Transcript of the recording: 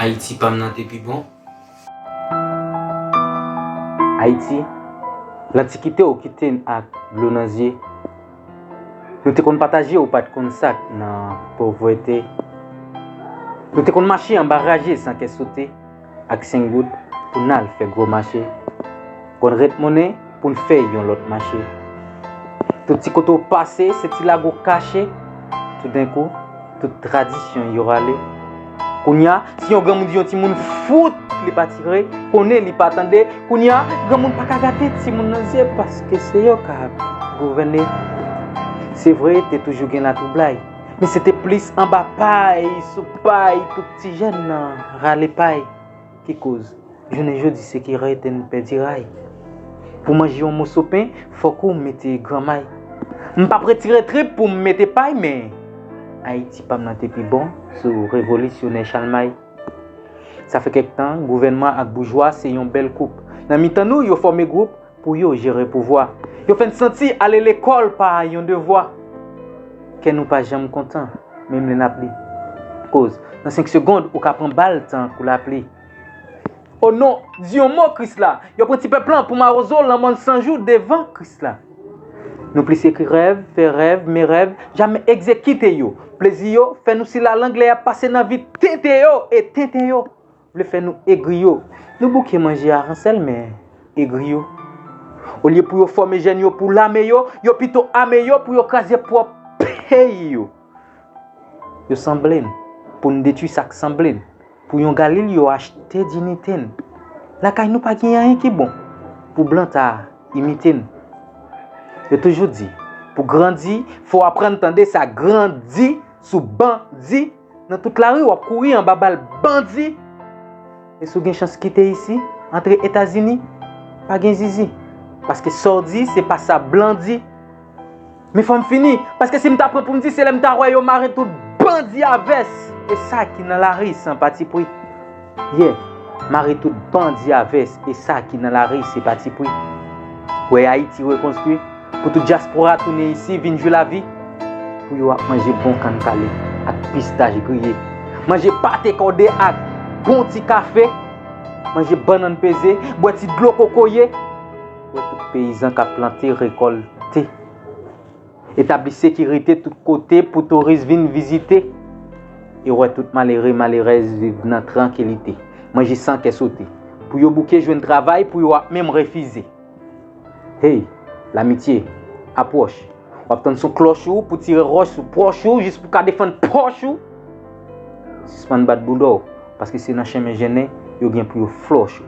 Ayiti pam nan te pi bon. Ayiti, lantikite ou kite n ak dlo nan zye Nou te konn pataje ou pat konn sak nan povrete Nou te konn mache anba raje san kè sote. ak 5 goud pou n al fè gwo mache Konn ret monnen pou n fè yon lòt mache Tout ti kote w pase se ti lago w kache Toudenkou tout tradisyon yo rale Kounya si yon granmoun di yon timoun fout li pa tire Konnen li pa tande Kounya granmoun pa ka gade timoun nan zye Paske se yo k ap gouvène Se vre te toujou gen latwoublay Men se te plis anba pay sou pay Ti jèn nan rale pay ki koz jounen jodi se ki rete n pèdi ray Pou manje yon moso pen fòk ou mete gran may M pap retire trip pou m mete pay men Ayiti pa m nan te pi bon sou revolisyonè Chalmay Sa fè kèk tan gouvènman ak boujwa se yon bèl koup Nan mitan nou yo fòme gwoup Pou yo jere pouvwa. Yo fè n santi ale lekòl pa yon devwa. Kè nou pa janm kontan, menm lè n ap li. Koz, nan senk segond, ou ka pran bal tan kou lapli. O non, di yon mo Krisla! Yo pran ti pèp lan pou mawozo lanmò n san jou devan Krisla. Nou plis ekri rèv, fè rèv, men rèv jamè egzekite yo. Plezi yo fè nou silalang lè y ap pase nan vi tenten yo e tenten yo. Vle fè nou egri yo. Nou bouke manje aransèl men egri yo. Olye pou yo fòme jèn yo pou lame yo, yo pito ame yo pou yo kraze pwòp peyi yo. Yo sanble n, pou n detwi sa k sanble n, pou yon galil yo achte dinite n. Lakay nou pa gen anyen ki bon, pou blan ta imite n. Yo toujou di, pou grandi, fò aprann tande sa gran di sou bandi. Nan tout lari wap kouri anba bal bandi e si w gen chans kite isi antre etazini pa gen zizi paske sa w di se pa sa blan di men fò m fini paske si m ta pran pou m di se lè m ta wè yo mare tout bandi a vès e sa ki nan lari san patipri. Yeah! Mare tout bandi a vès e sa ki nan lari se pa ti pri. Wè Ayiti rekonstwi pou tout dyaspora tounen isi vin jwi lavi pou yo ak manje bon kann kale ak pistach griye, manje pate kòde ak bon ti kafe, manje bannann peze, bwè ti dlo kokoye, wè tout peyizan k ap plante, rekòlte. Etabli sekirite tout kote pou touris vin vizite e wè tout malere, malerèz viv nan trankilite, manje san kè sote. Pou yo bouke jwenn travay pou yo ap menm refize. Hey! Lamitye, apwòch! W ap tann son klòch ou pou tire ròch sou pwòch ou jis pou ka defann pòch ou! Sispann bat bouda w, paske se nan chenmen jennen yo gen pou yo flòch ou.